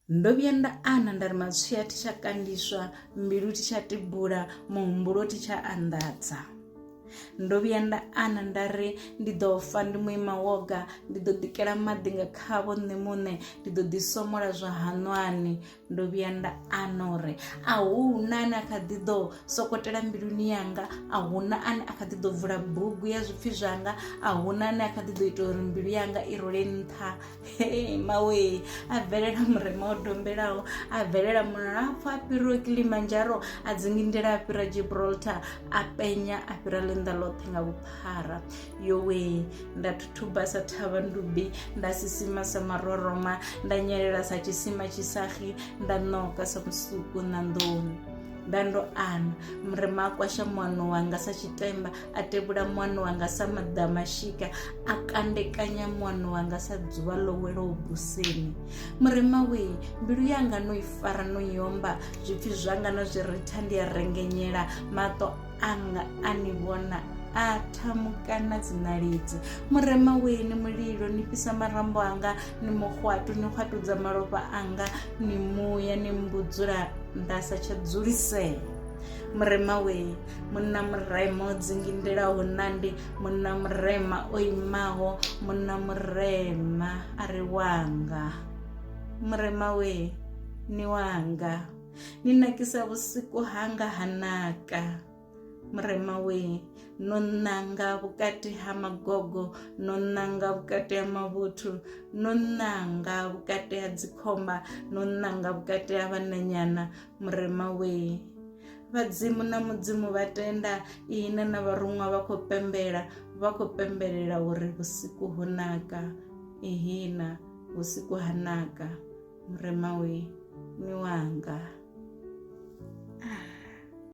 ndo vhuya nda ana nda ri matswia thi tsha kandiswa mbilu thi tsha tibula muhumbulo thi tsha anḓadza ndo vhuya nda ana nda ri ndi ḓo fa ndi muima woga ndi ḓo ḓikela maḓi nga khavho nṋe muṋe ndi ḓo ḓi somola zwa haṋwani ndo vhuya nda ana uri a hu na ane a kha ḓi ḓo sokotela mbiluni yanga a hu na ane a kha ḓi ḓo vula bugu ya zwipfhi zwanga a hu na ane a kha ḓi ḓo ita uri mbilu yanga i role nṱha Hey, mawe a bvelela murema o dombelaho a bvelela mulapfu a fhiriwe kilimanjaro a dzingindela a fhira gibraltar a penya a fhira ḽinḓa ḽoṱhe nga vhuphara yowe nda thuthuba sa thavha ndubi nda sisima sa maroroma nda nyelela sa tshisima tshisagi nda ṋoka sa musuku na nḓoni nda ndo ana murema a kwasha muano wanga sa tshitemba a tevhula muano wanga sa maḓamashika a kandekanya muano wanga sa dzuvha ḽo welaho buseni murema we mbilu yanga no i fara no yomba zwipfi zwanga na zwi ritha ndi a rengenyela maṱo anga a ni vhona a thamukana dzinalidzi murema weni mulilo ni fhisa marambo anga ni muhwatu ni hwatudza malofha anga ni muya ni mbudzula nda sa tsha dzulisea murema weni munna murema o dzingindelaho nandi munna murema o imaho munna murema a ri wanga murema we ni wanga ni nakisa vhusiku hanga ha naka murema we no nanga vhukati ha magogo no nanga vhukati ha mavhuthu no nanga vhukati ha dzikhomba no nanga vhukati ha vhananyana murema we Vhadzimu na mudzimu vha tenda ihina na vharuṅwa vha khou pembela vha khou pembelela uri vhusiku ho naka ihina vhusiku ha naka murema we ni wanga ah.